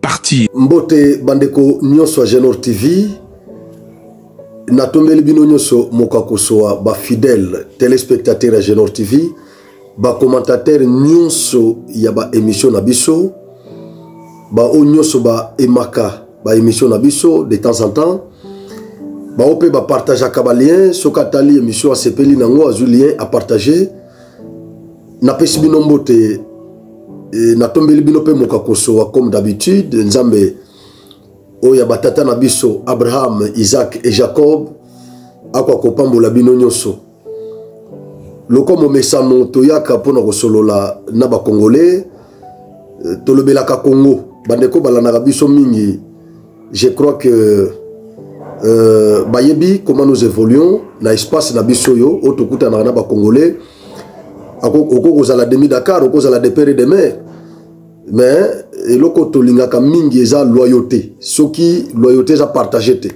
partir. Mbote bandeko nyoso ya Genor TV. Natombeli bino nyoso mokakosoa ba fidèles téléspectateurs ya Genor TV, ba commentateurs nyoso ya ba émission na biso, ba o nyoso ba emaka ba émission na biso de temps en temps. Ba ope ba partageaka ba liens soki atali émission asepeli nango azwi lien à partager. napesi bino mbote e, natombeli bino mpe mokakosowa comme d'habitude nzambe oyo ya batata na biso abraham isaac e jacob akoka kopambola bino nyonso lokola momesano toyaka mpo na kosolola na bakongole e, tolobelaka kongo bandeko balandaka biso mingi je crois que euh, bayebi comment nous évoluons na espace na biso oyo oyo tokutanaka na bacongolais okoki kozala demi dakar okoki kozala de pere de mer mais eloko tolingaka mingi eza loyauté soki loyauté eza partage te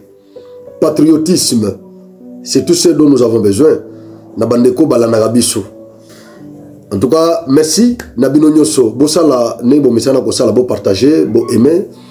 patriotisme c'est tout ce dont nous avons besoin na bandeko balandaka biso en tout cas merci na bino nyonso bosala ndenge bomesana kosala bopartage boaime bo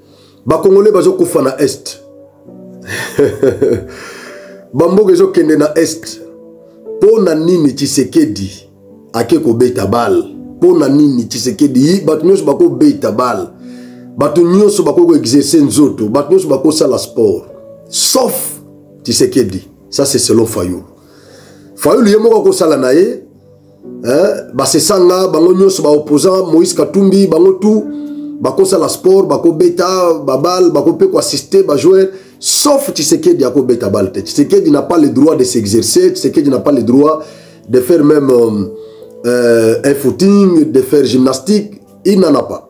bakongole bazokufa na est bamboka ezokende na est mpo na nini tshisekedi ake kobeta bale mpo na nini tshisekedi bato nyonso bakobeta bale bato nyonso bakoki koexerce nzoto bato nyonso bakosala sport sauf tshisekedi ça c'est selon fayulu fayulu ye moko akosala na ye eh, basesanga bango nyonso baopposant moïse katumbi bango tout bakosala sport bakobeta babale bakope koassiste bajoueur sauf tshisekedi akobeta bale te tshisekedi n'a pas le droit de s'exercer tshisekedi n'a pas le droit de faire même euh, euh, un footing de faire gymnastique il n'en a pas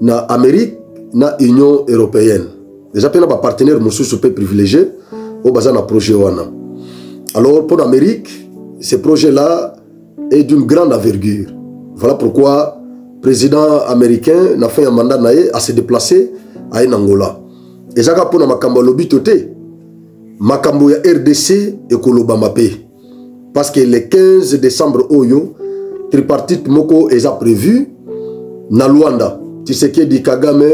na Amérique na Union européenne eza mpe na bapartenaire mosusu mpe privilégié oyo baza na projet wana alors mpo na Amérique ce projet là est d'une grande envergure voilà pourquoi président américain na fin ya mandat na ye ase déplacer aye na Angola ezaka mpo na makambo ya lobito te makambo ya rdc ekolobama mpe parce que le 15 décembre oyo tripartite moko eza prévu na luanda tshisekedi kagame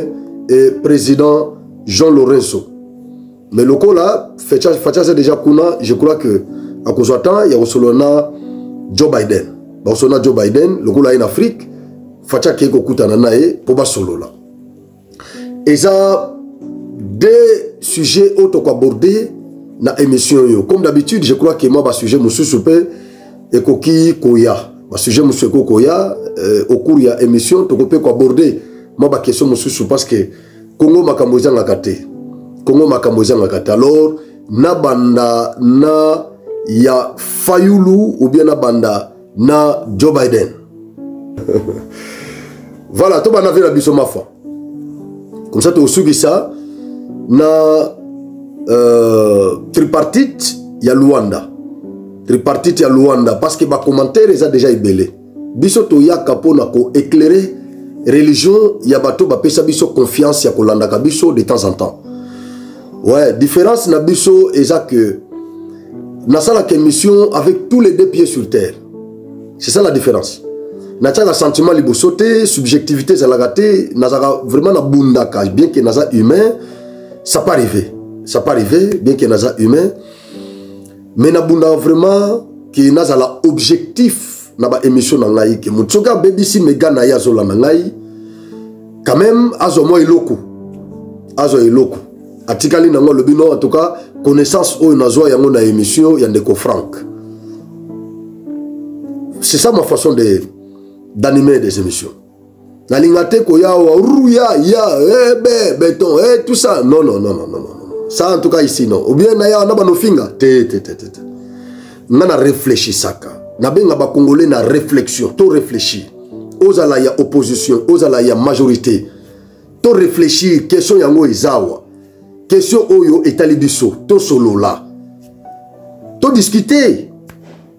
et président jean lorenzo mais lokola facha aza déjà kuna je crois que akozwa temps ya kosolola na joe biden bakosolola na joe biden lokola aye na afrique facha akei kokutana na ye mpo basolola eza deux sujets oyo tokoaborde na émission oyo comme d'habitude je crois que mwa basujet mosusu mpe ekoki koya basujet mosusu ekoki koya euh, au cours ya émission toko mpe koaborde mwa baquestion mosusu parce que kongo makambo ezangaka te kongo makambo ezangaka te alors nabanda na ya fayulu ou bien nabanda na joe biden voilà tobanda vie na biso mafa comme ça tosukisa na euh, tripartite ya luanda tripartite ya luanda parce que bacommentaire eza déjà ebele biso toyaka mpo na koéclaire religion ya bato bapesa biso confiance ya kolandaka biso de temps en temps ouais différence na biso eza que nasalaka émission avec tous les deux pieds sur terre c'est ça la différence natiaka sentiment liboso te subjectivité ezalaka te nazalaka vraiment nabundaka bien que naza humain ça pas arrivé ça pas arrivé bien que naza humain mais nabundaka vraiment ke nazala objectif na baémission na ngai ke moto soki abebisi mega na ye azolanda ngai quand même azwa mwa eloko azwa eloko atikali nango alobi no en tout cas connaissance oyo nazwa yango na émission ya ndeko frank c'est ça ma façon de d'animer des émissions nalinga te koya awa ruya ya ebe eh, beton e eh, tout ça non non non non non ça en tout cas ici non ou bien na yawa na banofinga te te te te te nga na réfléchissaka nabenga bacongolais na réflexion to réfléchir ozala ya opposition ozala ya majorité to réfléchir question yango eza awa question oyo etali biso tosolola todiscute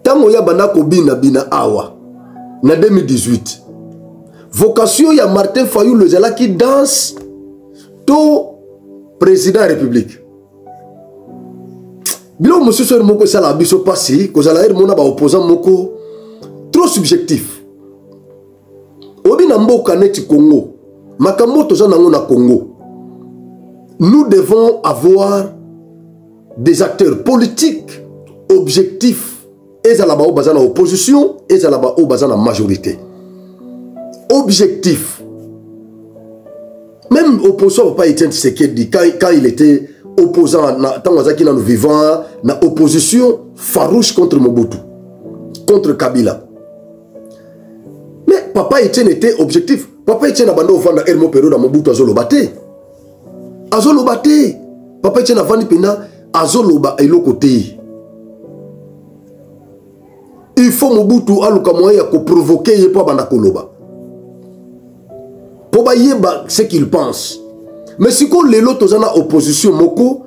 ntango ye abanda kobinabina awa na 2018 vocation ya martin fayulu ezalaki danse to président ya république biloko mosusu ere moko esalaka biso mpasi kozala ere mona baopposant moko trop subjectif obi na mboka neti congo makambo toza nango na congo nous devons avoir des acteurs politiques objectifs ezala baoyo baza na opposition ezala baoyo baza na majorité objectif même opposition papa etienne tshisekedi quand, quand il était opposant ntango azalaki nano vivant na opposition farouche contre mobutu contre kabila mais papa etienne était objectif papa etienne abanda ofanda hermo periode ya mobutu azoloba te azoloba te papa etienne avandi mpenza azoloba eloko te il faut mobutu aluka moyen ya koprovoke ye mpo abanda koloba mpo bayeba ce qu'il pense mais sikoyo lelo toza na opposition moko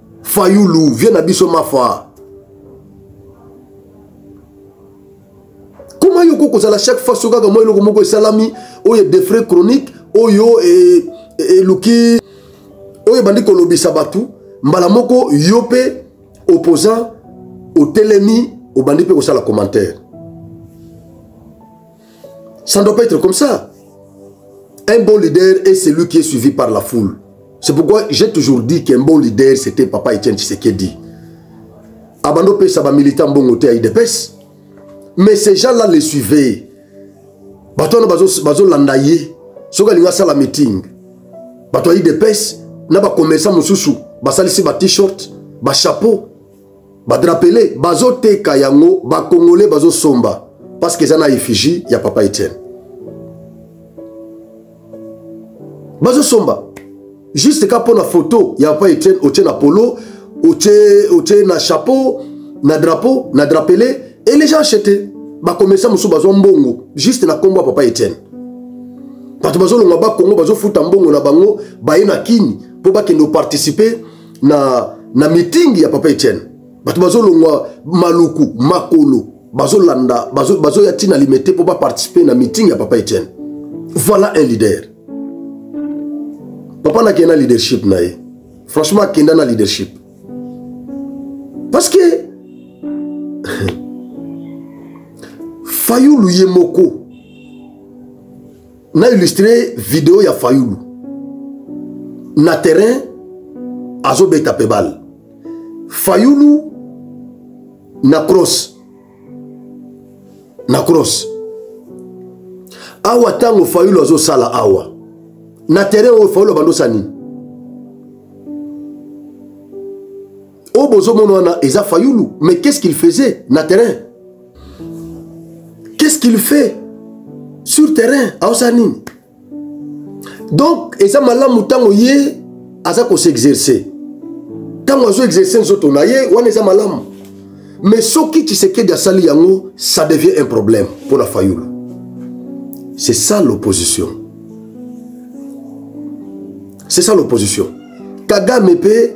fayulu vie na biso mafa koma yo kokozala chaque fois so kaka mwa eloko moko esalami oyo edefre chronique oyo e, e, eluki oyo ebandi kolobisa bato mbala moko yo mpe opposant otelemi obandi mpe kosala commentaire Ça ne doit pas être comme ça. Un bon leader est celui qui est suivi par la foule. C'est pourquoi j'ai toujours dit qu'un bon leader, c'était Papa Etienne Tshisekedi. Abando Pesa, ba militant bon côté à IDPS. Mais ces gens-là les suivaient. Bato wana bazolanda ye soki alingi asala meeting bato ya idps na bacommerçant mosusu basalisi ba t-shirt bachapeau badrapele bazoteka yango bakongole bazosomba parce que eza na effigie ya papa etienne bazosomba juste ka mpo na foto ya papa etienne otie na polo otie, otie na chapeau na drapeau na drapele et les gens achete bakomesa mosusu bazwa mbongo juste na nkombo ya papa etienne bato bazolongwa bakongo bazofuta mbongo na bango baye na kini mpo bakende oparticipe na, na mitingi ya papa etienne bato bazolongwa maluku makolo bazolanda bazoya bazo ntina limete mpo baparticipe na mitingi ya papa etienne voilà un leader papa nakende na leadership na ye franchement akenda na leadership parce que fayulu ye moko na illustre video ya fayulu na terrain azobeta mpe bale fayulu na cross na cross awa ntango fayulu azosala awa na terrain oyo fayulu abandosani oyo bozomona wana eza fayulu mais qu'est ce qu'il faisait na terrain qu'est ce qu'il fait sur terrain aosala nini donc eza malamu ntango ye aza koseexerce ntango azo exerce nzoto na ye wana eza malamu mais soki tshisekedi asali yango ça devient un problème mpo na fayulu c'est ça l'opposition c'est ça l'opposition kagame mpe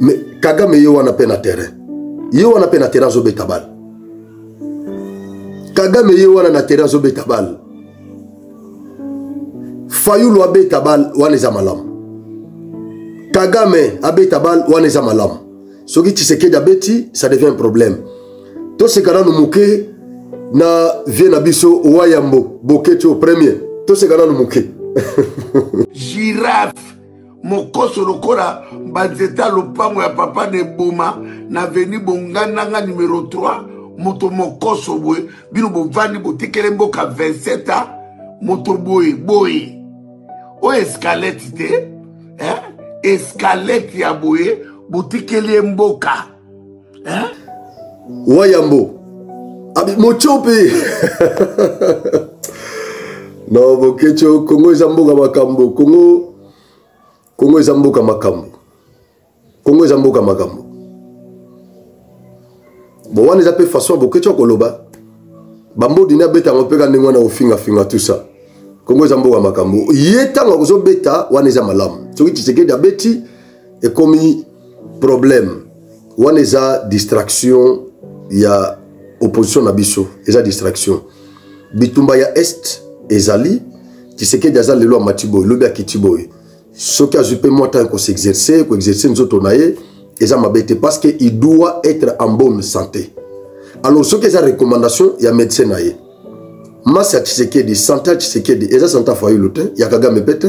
mais kagame ye wana mpe na terrain ye wana mpe na terrain azobeta bale kagame ye wana na terrain azobeta bale fayulu abeta bale wana eza malamu kagame abeta bale wana eza malamu soki tshisekedi abeti ça devient un problème toseka nanu moke na vie na biso wayambo boketi o premier toseka nanu moke girafe mokoso lokola banzete ya lopango ya papa na eboma na veni bongandanga numero 3 moto mokoso boye bino bovandi botikele mboka 27 a moto boye boye oyo eskalete te eh? eskalete ya boye botikeli ye mboka hein? wayambo abi mocho mpe no bokecho kongo eza mboka makambo kongo kongo eza mboka makambo kongo eza mboka makambo bon wana eza mpe façon bokecho akoloba bambodini abeta yango mpe ka ndenge wana kofingafinga tout ça kongo eza mboka makambo ye ntango akozobeta wana eza malamu soki tshisekedi abeti ekomi problème wana eza distraction ya opposition na biso eza distraction bitumba ya est ezali tshisekedi aza lelo amati boye lobi akiti boye soki azwi mpe mwa ntango koseexerce koexerce nzoto na ye eza mabe te parce que il doit être en bonne santé alors soki eza recommandation ya médecin na ye masi ya tshisekedi sante ya tshisekedi eza sante ya fayulu te ya kagame mpe te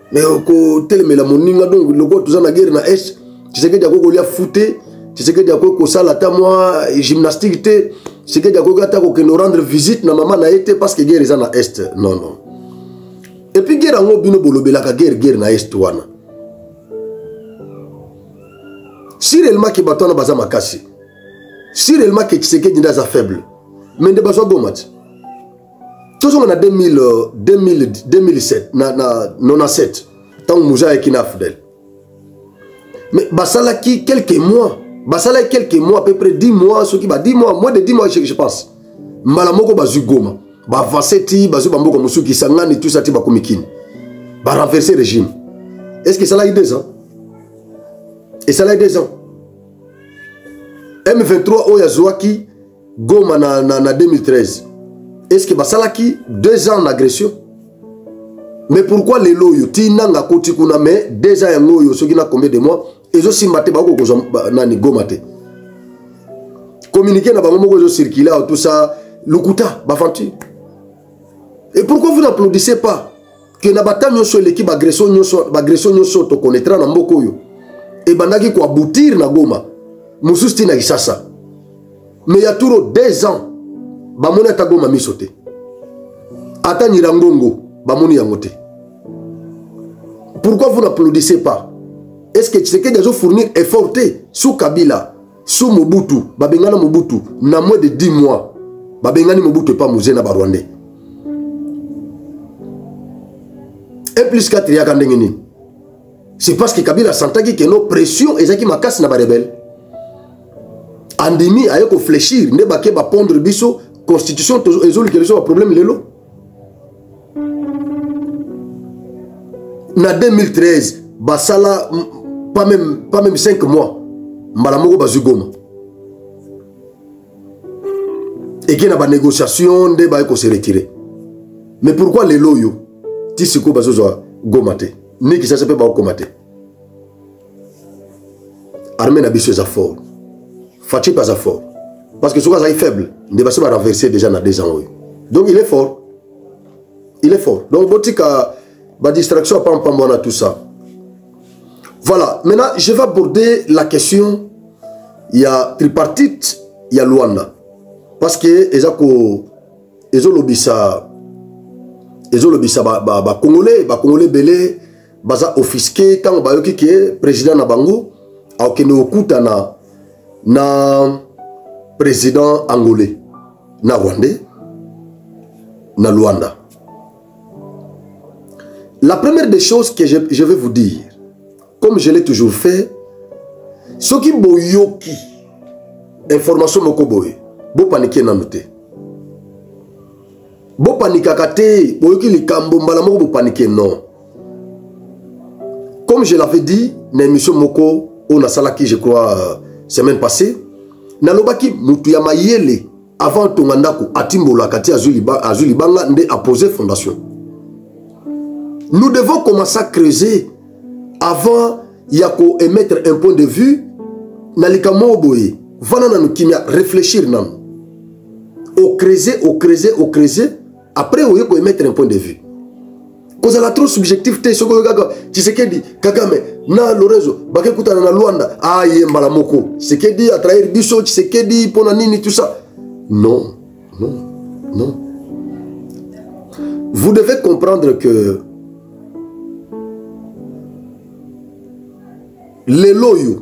mais kotelemela moninga donc lokola toza na guerre na est tshisekedi akoki kolia fu te tshisekedi akoki kosala ata mwa gymnastique te tshisekedi akoki ata kokende orendre visite na mama na ye te parce que guerre eza na est non non epuis guerre yango bino bolobelaka guerre guerre na est wana si réellement ke bato wana baza makasi si réellement ke tshisekedi nde aza faible mais nde bazwa goma ti tozonga na 2007 na, na 97 ntango moza ayaki na afdel mais basalaki quelques mois basalaki quelques mois à peu près 10 mois soki ba 10 mois moins de 10 mois je, je pense mbala moko bazwi goma baavance ti bazwi bamboka mosusu kisangani tusa ti bakomi kini barenverse régime est ce que esalaki deux ans esalaki deux ans m23 oyo azwaki goma na, na, na 2013 est ce que basalaki deux ans na agression mais pourquoi lelo oyo ti nanga akoti kuna mais deux ans yango oyo soki na combien de mois ezosimba te bakoki kozwa nani goma te communiqué na bango moko ezocircule awa tout ça lokuta baventure et pourquoi vous n'applaudissez pas que na bata nyonso eleki baagression nyonso baagression nyonso tokonetra na mboka oyo ebandaki koabutir na goma mosusu ti na kisasa me ya turo 2 ans bamoni ata goma miso te ata nyirangongo bamoni yango te pourquoi vous n'applaudissez pas est ce que tshisekedi azofournir effort te sous kabila sous mobutu babengana mobutu na moins de 10 mois babengani mobutu epa muze na barwandais e plus 4 eyaka ndenge nini c'est parce que kabila asantaki ke no pression ezalaki makasi na barebele andimi aye koflechir nde bake bapondre biso constitution ezolukela biso baproblème lelo na 2013 basala pas même, pas même 5 mois mbala moko bazwi goma eke na banégociation nde baye kose retire mais pourquoi lelo oyo ti sikoyo bazozwa goma te ni kisasa mpe bakokoma te armée na biso eza fort faci mpe aza fort parce que soki azalaki faible nde basi barenverse déjà na deux ans oyo donc il est fort il est fort donc botika badistraction ya pampamba wana tout ça voilà maintenant je vais aborder la question ya tripartite ya luanda parce que eza ko ezolobisa ezolobisa bacongolais ba, ba bacongolais ebele baza offisqué ntango bayoki ke président na bango akokende kokutana na président angolais na rwandais na luanda la première des choses que je, je vais vous dire comme je l'ai toujours fait soki boyoki information moko boye bopanike nanu te bopanikaka te boyoki likambo mbala moko bopanike non comme je l'avais dit na émission moko oyo nasalaki je crois euh, semaine passée nalobaki motu ya mayele avant atonga ndako atimbolaka ti azwi libanga nde apose fondation nous devons commencer à creuser avant ya koémettre un point de vue na likambo moko boye vanda nanu kimia réfléchir nanu ocreuser ocreuser ocreuser après oye ko émettre un point de vue kozala trop subjectif te soki oyo kaka tshisekedi kagame na lorenzo bakekutana na luanda aye ah, mbala moko tshisekedi atrahir biso tshisekedi mpo na nini tout ça non non non vous devez comprendre que lelo oyo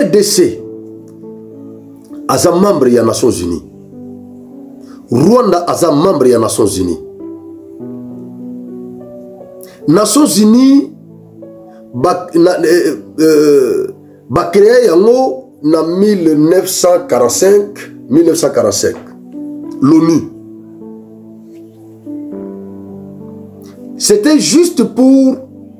rdc aza membre ya nations unies rwanda aza membre ya nations unies nations unies eh, eh, bacreye yango na 1945 1945 l'onu c'était juste pour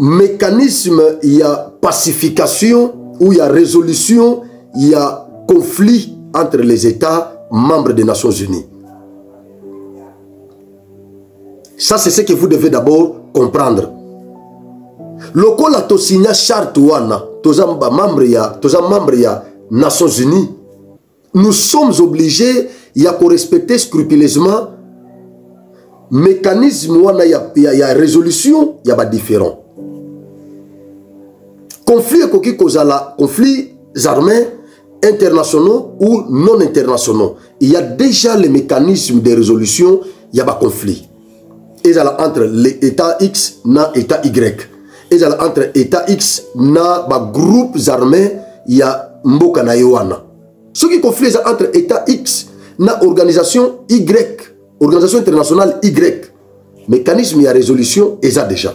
mécanisme ya pacification ou ya résolution ya conflit entre les états membres des nations unies ça c'est ce que vous devez d'abord comprendre lokola tosigna charte wana toza membre ya toza membre ya nations unies nous sommes obligés ya korespecter scrupuleusement mécanisme wana ya, ya, ya résolution ya badifférent conflit ekoki kozala conflit armés internationaux ou non internationaux il y a déjà les mécanismes de résolution ya baconflit ezala entre le état x na état y ezala entre état x na bagroupes armés ya mboka na ye wana soki conflit eza entre état x na organisation y organisation internationale y mécanisme ya résolution eza déjà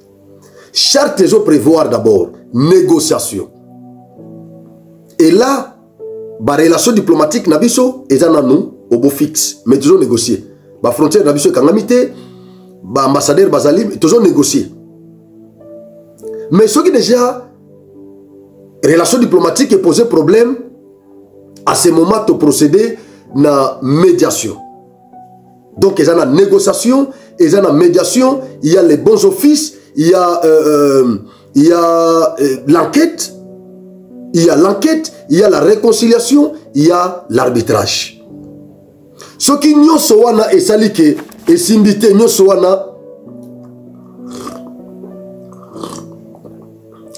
charte ezo prévoir d'abord négociation et là barelation diplomatique na biso eza nanu obo fixe mais tozo négocier bafrontière na biso ekangami te baambassadeur bazali tozo négocier mais soki déjà relation diplomatique epose problème à ce moment toprocéder na médiation donc eza na négociation eza na médiation il y a les bons offices il y a euh, euh, il y a euh, l'enquête il y a l'enquête il y a la réconciliation il y a l'arbitrage soki nyonso wana esali ke esimbi te nyonso wana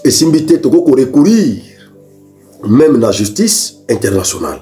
esimbi te tokoki korecourir même na justice internationale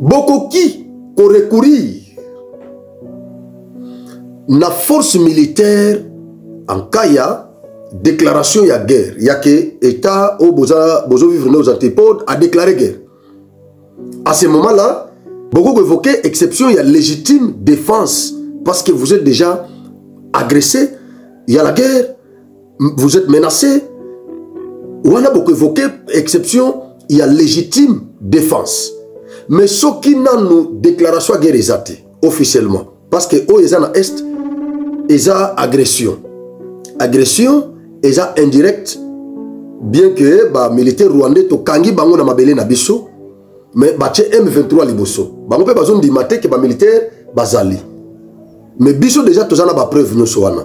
bokoki korecourir na force militaire en cas ya déclaration ya guerre ya ke état oyo bozovivre na aux antipodes a déclaré guerre à ce moment là bokoki koévoke exception ya légitime défense parce que vous êtes déjà agressé ya la guerre vous êtes menacé wana bokoevoke exception ya légitime défense mais soki nanu déclaration ya guerre eza te officiellement parce que oyo eza na est eza agression agression eza indirecte bien que bamilitaire rwandais tokangi bango na mabele na biso mais batye m23 liboso bango mpe bazondima te ke bamilitaire bazali mais biso deja toza na bapreuve nyonso wana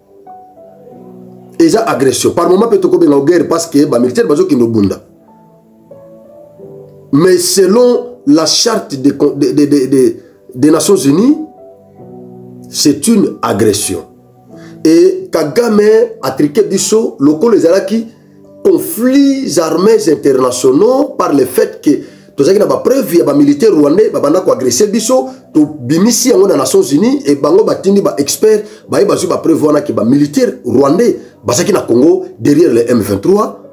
eza agression par moment mpe tokobenga o guerre parce que bamilitaire bazokende obunda mais selon la charte des de, de, de, de, de nations unies c'est une agression e kagame atrike biso lokola ezalaki conflits armés internationaux par le fait que tozalaki na bapreuve ya bamilitaire rwandais babanda koagrese biso tobimisi yango na nations unies e bango batindi baexpert baye bazwi bapreuve wana ke bamilitaire rwandais bazalaki na congo derrière le m23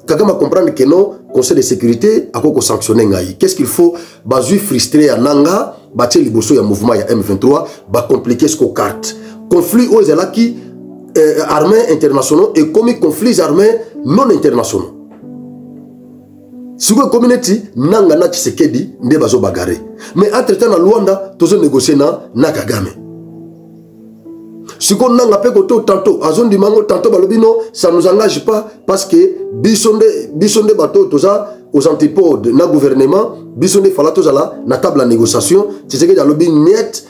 kagame acomprendre que non conseil de sécurité akoki kosanctionne ngai qu'est ce qu'il faut bazwi frustre ya nanga batie liboso ya mouvement ya m23 bacomplike siko carte conflit oyo ezalaki eh, armée internationaux ekomi conflits armés non internationaux sikoyo ekomi neti nanga na tshisekedi nde bazobagare mais entre temps na luanda tozonegocie na na kagame siko nanga mpe koto tanto azondima yango tanto balobi no ça nous engage pas parce que biso nde biso nde bato toza aux antipodes na gouvernement biso nde fala tozala na table ya négociation tshisekedi alobi niete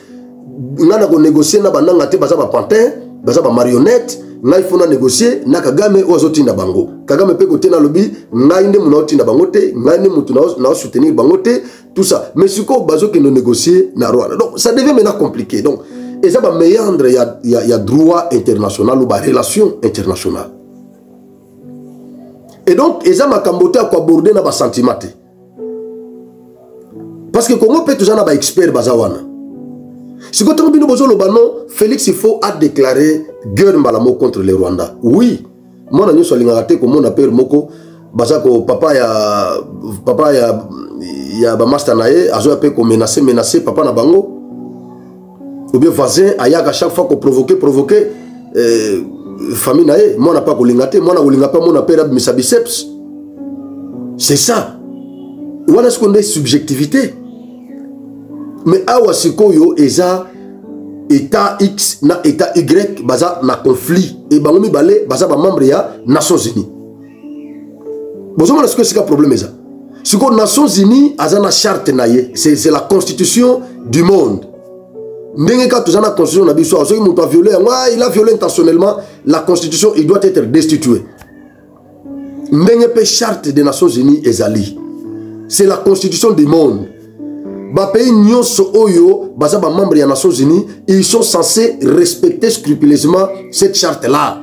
ngai na konégocie na bananga te baza bapantin baza bamarionnette ngai fona négocie na kagame oyo azotinda bango kagame mpe kote nalobi ngai nde moto naotinda bango te ngai nde moto naosoutenir bango te tout ça mais sikoyo bazokende négocier na rwanda donc ça devient maintenant compliqué donc eza baméandre ya, ya, ya droit international ou barelation internationale et donc eza makambo te ya koaborde na basentiment te parce que congo mpe toza na baexpert baza wana sikoyo ntango bino bozoloba no félix faut adéclare guerre mbala moko contre le rwanda oui mwana nyonso alingaka te komona pere moko baza ko papa ya papa ya ya bamasta na ye azoya mpe komenase menase papa na bango obien voisin ayaka chaque fois koprovoke provoke eh, famille na ye mwana mpe akolinga te mwana akolinga mpe amona mpe abimisa biceps c'est ça wana sikoyo nde subjectivité mais awa sikoyo eza état x na état y baza na conflit e bango mibale baza bamembre ya nations unies bozomona sikoyo esika problème eza sikoyo nations unies aza na charte na ye c'est la constitution du monde ndenge kaka toza na constitution na biso soki moto aviole yango ah, il a viole intentionnellement la constitution il doit être destitué ndenge mpe charte des nations unies ezali c'est la constitution du monde bapays nyonso oyo baza bamembre ya nations unies ils sont censés respecter scrupuleusement cette charte là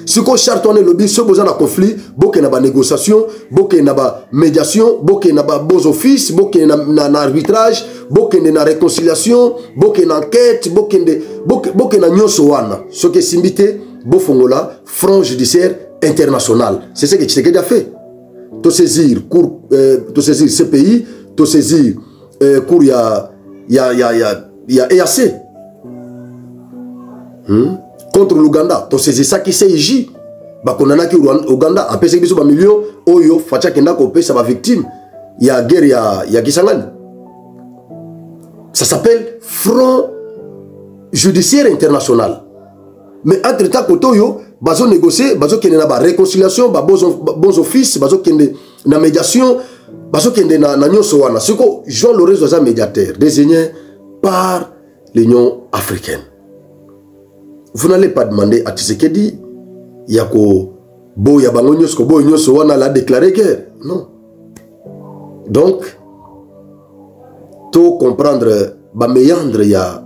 sikoyo charte wana elobi soki boza na conflit bokende na banégociation bokende na bamédiation bokende na babons office bokende na, na, na arbitrage bokende na réconciliation bokende na enquête bokende, bokende, bokende na nyonso wana soki esimbi te bofongola front judiciaire international c'est ce que tshisekedi a fait tosaisir cour euh, tosaisir cpi tosaisir euh, cour ya ya ya ya ya eac hmm? contre l'ouganda tosaisisaki cij bakondanaki ouganda apesaki biso bamilio oyo faci akenda kopesa bavictime ya guerre ya, ya kisangani ça s'appelle front judiciaire international mais entre temps koto yo bazo négocier bazo kende na ba réconciliation ba bons bons office bazo kende na médiation bazo kende na na nyoso wana siko Jean Lorenzo aza médiateur désigné par l'Union africaine vous n'allez pas demander à Tshisekedi ya ko boya bango nyoso ko boya nyoso wana la déclarer guerre non donc to comprendre ba meandre ya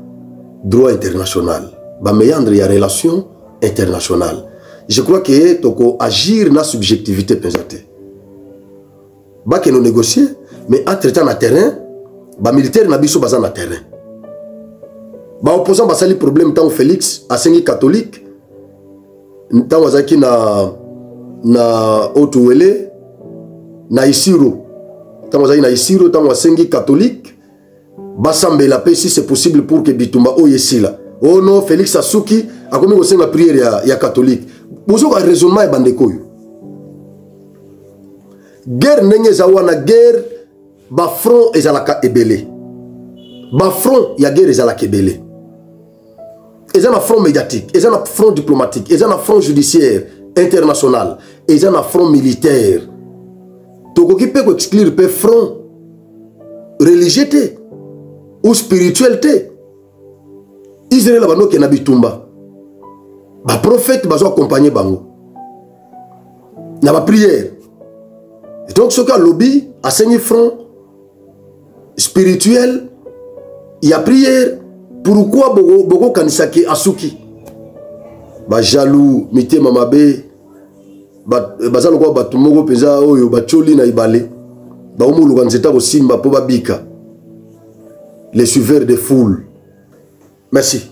droit international ba meandre ya relation internationale je crois que toko agir na subjectivité mpenza te bakende négocier mais entre temps na terrain bamilitaire na biso baza na terrain baopposant basali problème ntango félix asengi catholique ntango azalaki na na otuwele na isiro ntango azalaki na isiro ntango asengi katholike basambela mpe si c'est possible pour que bitumba oyo esila o oh no félix asuki akomi kosenga priere ya, ya katholike bozoka raisonnement ya bandeko oyo guerre ndenge eza wana guerre bafront ezalaka ebele bafront ya guerre ezalaka ebele eza na front médiatique eza na front diplomatique eza na front judiciaire international eza na front militaire tokoki mpe koexclure mpe front religieux te ou spirituel te israel banokenda bitumba baprofete bazo accompagne bango na bapriere donc soki alobi asengi front spirituel ya prière pourquoi bokokanisa ke asuki bajaloux mitema mabe baza lokola bato moko mpenza oyo batioli na ibale bakomoluka nzete akosimba mpo babika les suiveurs de foule merci